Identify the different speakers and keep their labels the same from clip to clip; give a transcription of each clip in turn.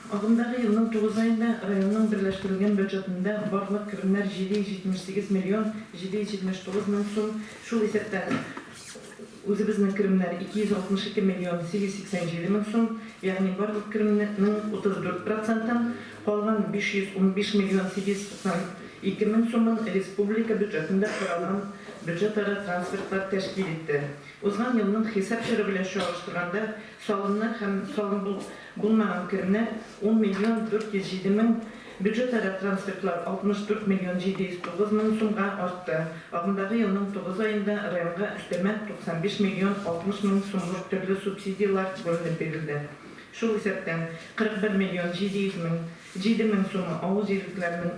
Speaker 1: Агымдагы елның тугыз аенда районның берләштерелгән бюджетында барлык керемнәр 778 миллион 779 мең сум, шул исәптән үзебезнең керемнәр 262 миллион 887 мең сум, ягъни барлык керемнең 34 процентын, калган 515 миллион 792 мең сумын республика бюджетында каралган бюджетара трансфертлар тәшкил итте. Узган елның хисап чоры белән чагыштырганда салымнар һәм салым Булмаган керемнәр, ун миллион дүрт йөз җиде мең, бюджетара трансфертлар, 64 миллион 709 мең сумга артты. Агымдагы елның тугыз аенда районга өстәмә 95 миллион 60 мең сумлык төрле субсидияләр бүленеп бирелде. Шул исәптән, 41 миллион 700 мең, җиде мең сумы авыл җирлекләренең,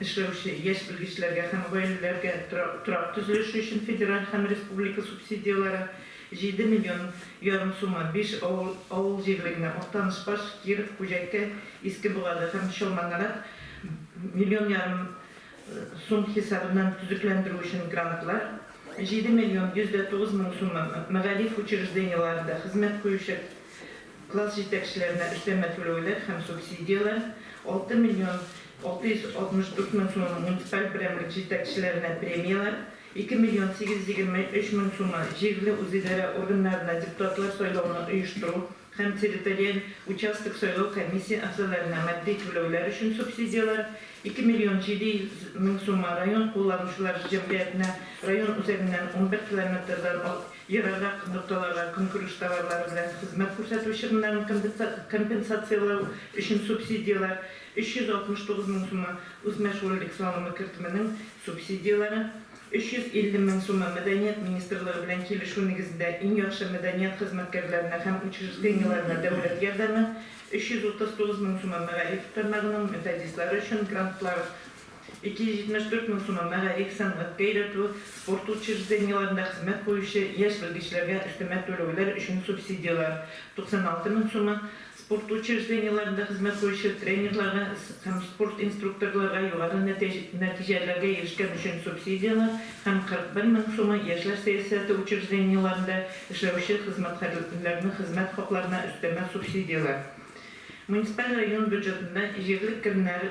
Speaker 1: эшләүче яшь белгечләргә һәм гаиләләргә торак төзелеше өчен федераль һәм республика субсидияләре, җиде миллион ярым сумы, биш авыл авыл җирлегенә, Актаныш, Паж, Киров, Күҗәккә, Иске Богада һәм Чалманарат, миллион ярым сум хисабыннан төзекләндерү өчен грантлар, җиде миллион йөз дә тугыз мең сумы, мәгариф учреждениеләрендә хезмәт куючы, Класс җитәкчеләренә өстәмә түләүләр һәм субсидияләр, алты миллион алты йөз алтмыш дүрт мең сумы муниципаль берәмлек җитәкчеләренә премияләр, ике миллион сигез йөз егерме өч мең сумы җирле үзидарә органнарына депутатлар сайлауны оештыру һәм территориаль участок сайлау комиссия әгъзаларына матди түләүләр өчен субсидияләр, ике миллион җиде йөз мең сумы район кулланучылар җәмгыятенә район үзәгеннән унбер километрдан Ераграк нокталарга көнкүреш товарлары белән хезмәт күрсәтү чыгымнарын компенсацияләү өчен субсидияләр, 369 мең сумы, үсмер шульдек салымы кертеменең субсидияләре, 350 мең сумы, Мәдәният министрлыгы белән килешү нигезендә иң яхшы мәдәният хезмәткәрләренә һәм учреждениеләренә дәүләт ярдәме, 339 мең сумы, мәгариф тармагының методистлары өчен грантлар, 274 мең сумы мәгариф, сәнгать, бәйләтү, спорт учреждениеләрендә хезмәт куючы яшь белгечләргә өстәмә түләүләр өчен субсидияләр, 96 мең сумы, спорт учреждениеләрендә хезмәт куючы тренерларга һәм спорт инструкторларга югары нәтиҗәләргә ирешкән өчен субсидияләр һәм 41 мең сумы, яшьләр сәясәте учреждениеләрендә эшләүче хезмәткәрләрнең хезмәт хакларына өстәмә субсидияләр. Муниципаль район бюджетында җирлек керемнәр,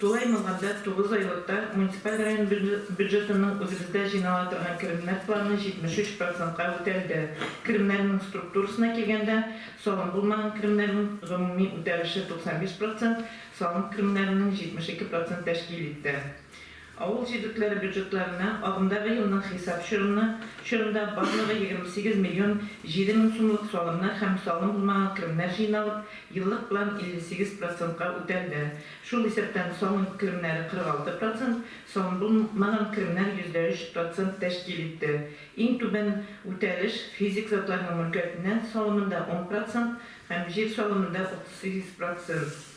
Speaker 1: Тулай Мамадат тугыз айлыкта муниципаль район бюджетының үзебездә җыйнала торган керемнәр планы 73 процентка үтәлде. Керемнәрнең структурасына килгәндә, салым булмаган керемнәрнең гомуми үтәлеше 95 процент, салым керемнәренең 72 процент тәшкил итте. Авыл җирлекләре бюджетларына агымдагы елның хисап чорына чорында барлыгы 28 миллион 7 мең сумлык салымнар һәм салым булмаган керемнәр җыйналып, еллык план 58 процентка үтәлде. Шул исәптән салым керемнәре 46 процент, салым булмаган керемнәр 3% процент тәшкил итте. Иң түбән үтәлеш физик затларның мөлкәтеннән салымында 10 процент һәм җир салымында 38 процент.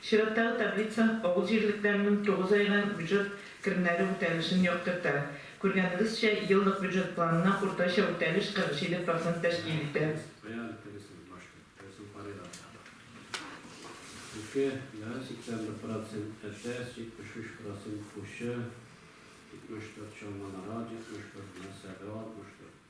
Speaker 1: Чираттагы таблица авыл җирлекләренең тугыз айга бюджет керемнәре үтәлешен яктырта. Күргәнегезчә, еллык бюджет планына уртача үтәлеш 47 процент тәшкил итә.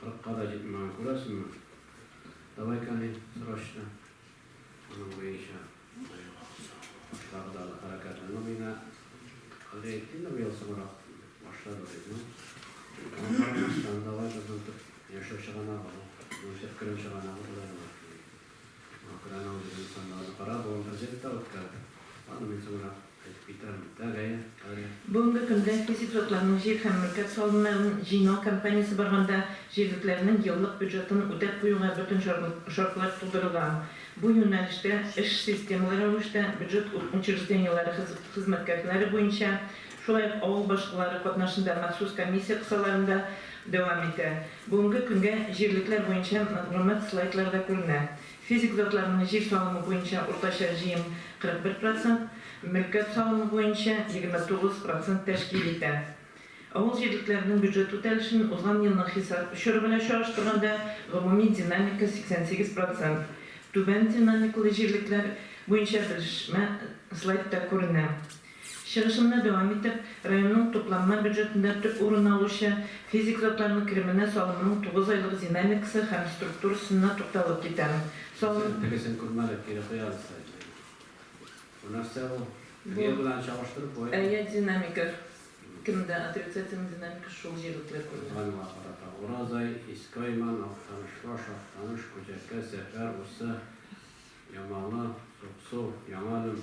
Speaker 1: Кырыкка да җитмәгән, күрәсеңме? Давай-ка ни, срочно. Аның буенча тагы да хәрәкәт. Ну, мина Андрей Тина быел соңрак башлады бит, ну. Аңа карамастан, давай безнең яшәү чыганагы, ну, исәп керем чыганагы була. Украинаның безнең саннарны карап, ул интердикт та үткәрде. Аны мин соңрак әйтеп китерәм. Тәгаен, Галия. Бүгенге көндә физик затларның җир һәм мөлкәт салымнарын җыйнау кампаниясе барганда, җирлекләрнең еллык бюджетын үтәп куюга бөтен шартлар тудырылган. Бу юнәлештә эш системалы рәвештә бюджет учреждениеләре хезмәткәрләре буенча, шулай ук авыл башкалары катнашында махсус комиссия кысаларында дәвам итә. Бүгенге көнгә җирлекләр буенча мәгълүмат слайдларда күренә. Физик затларның җир салымы буенча уртача җыем 41 процент, мөлкәт салымы буенча 29 процент тәшкил итә. Авыл җирлекләренең бюджет үтәлешен узган елның хисап чоры белән чагыштырганда гомуми динамика 88 процент. Түбән динамикалы җирлекләр буенча белешмә слайдта күренә. Чыгышымны дәвам итеп, районның тупланма бюджетында төп урын алучы физик затларның кеременә салымның тугыз айлык динамикасы һәм структурасына тукталып китәм. Салым. Сез тегесен күрмәдек, кире куябыз сайтны. Бу нәрсә бу? Теге белән чагыштырып буламы? Әйе, динамика кемдә отрицательный динамика шул җирлекләр күренә. Узганга карата Уразай, Искойман, Актанышбаш, Актаныш, Күҗәкә, Сәфәр, Усы, Ямалы, Суксу, Яңа Әлем.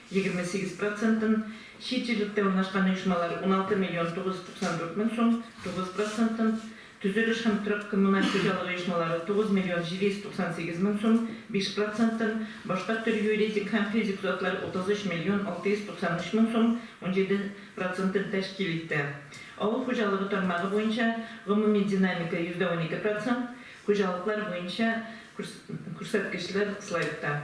Speaker 1: егерме сигез процентын, чит җирлектә урнашкан оешмалар, уналты миллион тугыз йөз туксан дүрт мең сум, тугыз процентын, төзелеш һәм торак-коммуналь хуҗалык оешмалары, тугыз миллион җиде йөз туксан сигез мең сум, биш процентын, башка төр юридик һәм физик затлар, утыз өч миллион алты йөз туксан өч мең сум, унҗиде процентын тәшкил итте. Авыл хуҗалыгы тармагы буенча гомуми динамика, йөздә унике процент, хуҗалыклар буенча күрсәткечләр слайдта.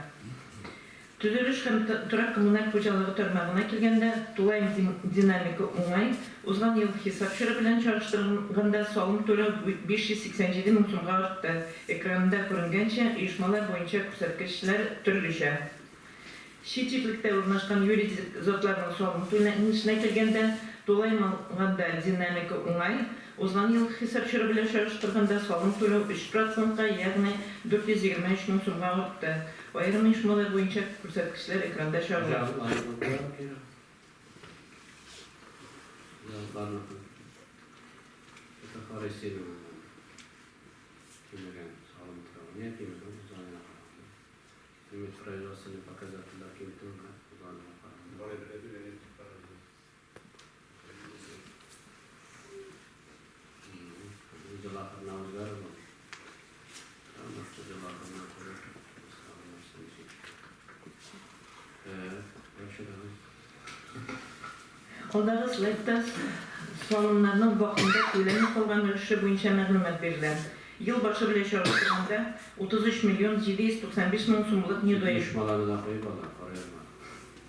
Speaker 1: Төзелеш һәм торак-коммуналь хуҗалыгы тармагына килгәндә, тулаем динамика уңай, узган ел хисап чоры белән чагыштырганда салым түләү 587 мең сумга артты, экранында күренгәнчә, оешмалар буенча күрсәткечләр төрлечә. Чит ирлектә урнашкан юридик затларның салым түләнешенә килгәндә, тулаем алганда динамика уңай, узган ел хисап чоры белән чагыштырганда салым түләү 3 процентка, ягъни 423 мең сумга артты. Аерым оешмалар буенча күрсәткечләр экранда чагыла. Алдагы слайдта салымнарның вакытында түләнми калган өлеше буенча мәгълүмат бирелә. Ел башы белән чагыштырганда, 33 миллион 795 мең сумлык недоимка.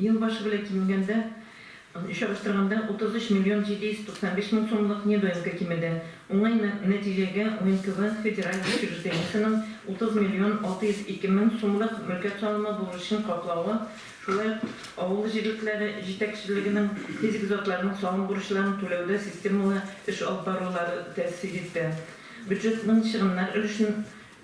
Speaker 1: Ел башы белән кимегәндә, чагыштырганда, 33 миллион 795 мең сумлык недоимка кимеде. Уңай нәтиҗәгә УНКВ федераль учреждениесенең 30 миллион 602 мең сумлык мөлкәт салымы бурычын каплавы, шулай ук авыл җирлекләре җитәкчелегенең физик затларның салым бурычларын түләүдә системалы эш алып барулары тәэсир итте. Бюджетның чыгымнар өлешен.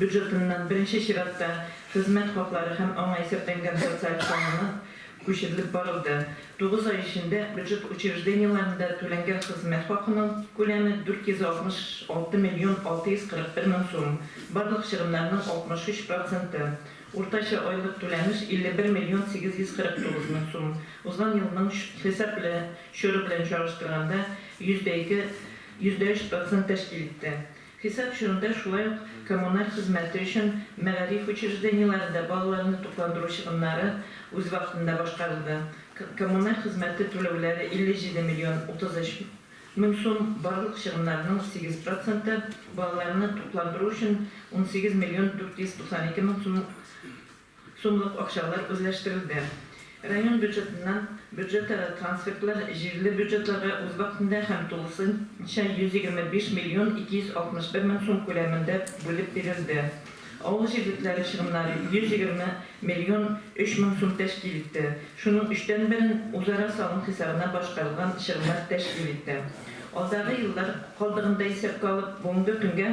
Speaker 1: бюджетыннан беренче чиратта хезмәт хаклары һәм аңа исәпләнгән социаль салымнар күчерелеп барылды. Тугыз ай эчендә бюджет учреждениеләрендә түләнгән хезмәт хакының күләме 466 миллион 641 мең сум, барлык чыгымнарның 63 проценты. Уртача айлык түләнеш 51 миллион 849 мең сум, узган елның хисап чоры белән чагыштырганда, йөздә ике, йөздә өч процент тәшкил итте. Хисап чорында шулай ук коммуналь хезмәте өчен мәгариф учреждениеләрендә балаларны тукландыру чыгымнары үз вакытында башкарылды. Коммуналь хезмәте түләүләре 57 миллион 33 мең сум, барлык чыгымнарның 8 проценты, балаларны тукландыру өчен 18 миллион 492 мең сум, Сумлык акчалар үзләштерелде. Район бюджетыннан бюджетара трансфертлар җирле бюджетларга үз вакытында һәм тулысынча 125 миллион 261 мең сум күләмендә бүлеп бирелде. Авыл җирлекләре чыгымнары 120 миллион 3 мең сум тәшкил итте. Шуның өчтән берен үзара салым хисабына башкарылган чыгымнар тәшкил итте. Алдагы еллар калдыгын да исәпкә алып, бүгенге көнгә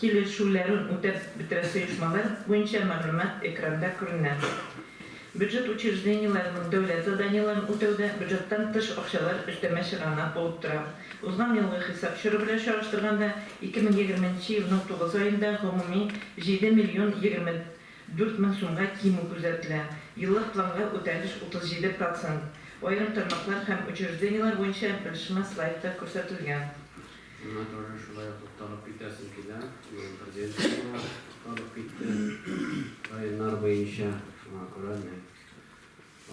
Speaker 1: Килешүләрен үтәп бетерәсе оешмалар буенча мәгълүмат экранда күренә. Бюджет учреждениеләренең дәүләт заданиеләрен үтәүдә бюджеттан тыш акчалар өстәмә чыганак булып тора. Узган елгы хисап чоры белән чагыштырганда, 2020 нче елның тугыз аенда гомуми 7 миллион 24 мең сумга кимү күзәтелә, еллык планга үтәлеш 37 процент. Аерым тармаклар һәм учреждениеләр буенча белешмә слайдта күрсәтелгән. Шуннан тагын шулай ук тукталып китәсем килә. Бүген президентка тукталып китте. Районнар буенча шуңа күрә мин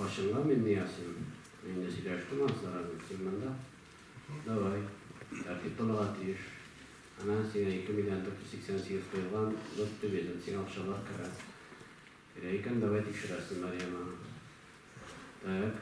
Speaker 1: ачыңла Минниязовым. Мин инде сөйләштем Анзара белән, син монда. Давай, тәртип булырга тиеш. Әнә сиңа 2 миллион 488 куелган, бер төбедән сиңа акчалар керә. Керә икән, давай тикшерәсен Марьяманы. Так.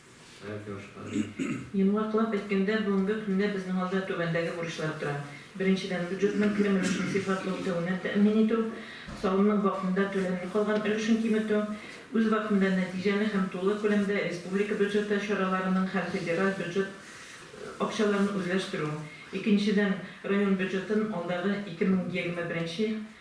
Speaker 1: Йомгаклап әйткәндә, бүгенге көндә безнең алда түбәндәге бурычлар тора. Беренчедән, бюджетның керем өлешен сыйфатлы үтәвенә тәэмин итү, салымның вакытында түләнми калган өлешен киметү, үзвакытында нәтиҗәле һәм тулы күләмдә республика бюджеты чараларының һәм федераль бюджет акчаларын үзләштерү, икенчедән, район бюджетын алдагы 2021